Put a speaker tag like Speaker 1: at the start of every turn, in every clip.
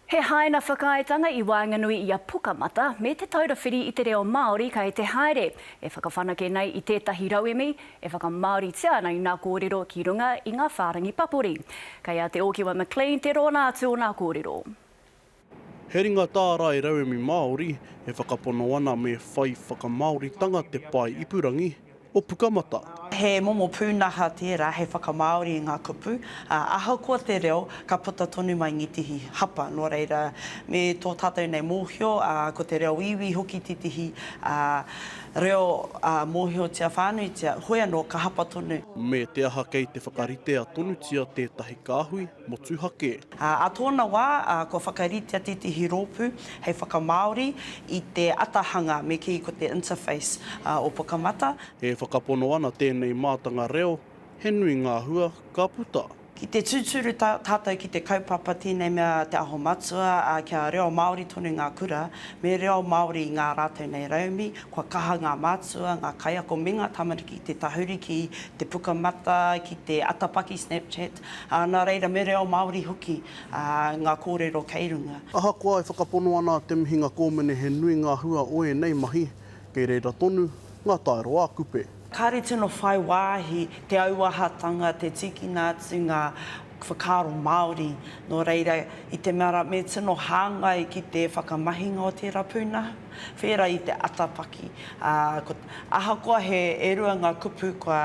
Speaker 1: He haina whakaaetanga i waenganui i a Pukamata me Te Taura Whiri i te Reo Māori kei te haere e whakawhanake nei i tētahi rauemi e whakamāoritia ana i nā kōrero ki runga i ngā whārangi papori. Kei a Te Ōkiwa McLean te rōna atu o nā kōrero.
Speaker 2: He ringa tārai rauemi Māori e whakapono ana me whai whakamāoritanga te pae ipurangi, o Pukamata. He momo
Speaker 3: pūnaha tērā hei whakamāori i ngā kupu, ā, ahakoa te reo, ka puta tonu mai Ngitihi hapa. Nō reira, me tō tātou nei mōhio, ā, ko te reo iwi hoki tētehi, ā, reo, ā, mōhiotia whānuitia, hoi anō, ka hapa tonu. Me te aha kei
Speaker 2: te whakaritea tonutia tētahi kāhui? motuhake. Ā tōna wā,
Speaker 3: kua whakaritea tētehi rōpū hei whakamāori i te atahanga me kī ko te interface o Pukamata. E whakapono
Speaker 2: ana tēnei mātanga reo, he nui ngā hua ka puta. Ki te tūturu
Speaker 3: tātou ki te kaupapa tēnei mea Te Aho Matua, ā, kia reo Māori tonu ngā kura, me reo Māori ngā rātou nei rauemi, kua kaha ngā mātua, ngā kaiako me ngā tamariki te tahuri ki te Pukamata, ki te atapaki Snapchat, Ā, nā reira, me reo Māori hoki ngā kōrero kei runga. Ahakoa e whakapono
Speaker 2: ana te mihinga kōmine he nui ngā hua o ēnei mahi, kei reira tonu ngā taero ā-kupe. Kāre tino whai
Speaker 3: wāhi te auahatanga, te tīkina atu ngā whakaaro Māori, nō reira, i te mea rā, me tino hāngai ki te whakamahinga o tērā pūnaha, whērā i te atapaki. Ā, ahakoa he e rua ngā kupu kua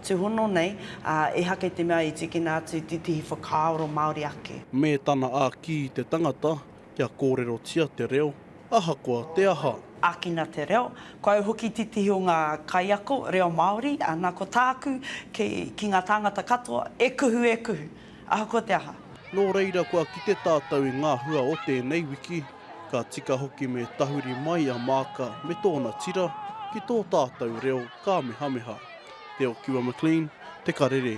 Speaker 3: Tūhono nei, ā, ehake te mea i tīkina atu i tētehi whakaaro Māori ake. Me tana āki
Speaker 2: i te tangata kia kōrerotia te reo, ahakoa te aha. Ākina te reo.
Speaker 3: Ko au hoki tētehi o ngā kaiako reo Māori, ā, nā, ko tāku, ki, ki ngā tāngata katoa, e kuhu, e kuhu. Ahakoa te aha. Nō reira kua
Speaker 2: kite tātou i ngā hua o tēnei wiki, ka tika hoki me tahuri mai a Maaka me tōna tira ki tō tātou reo kāmehameha. Te Okiwa McLean, Te Karere.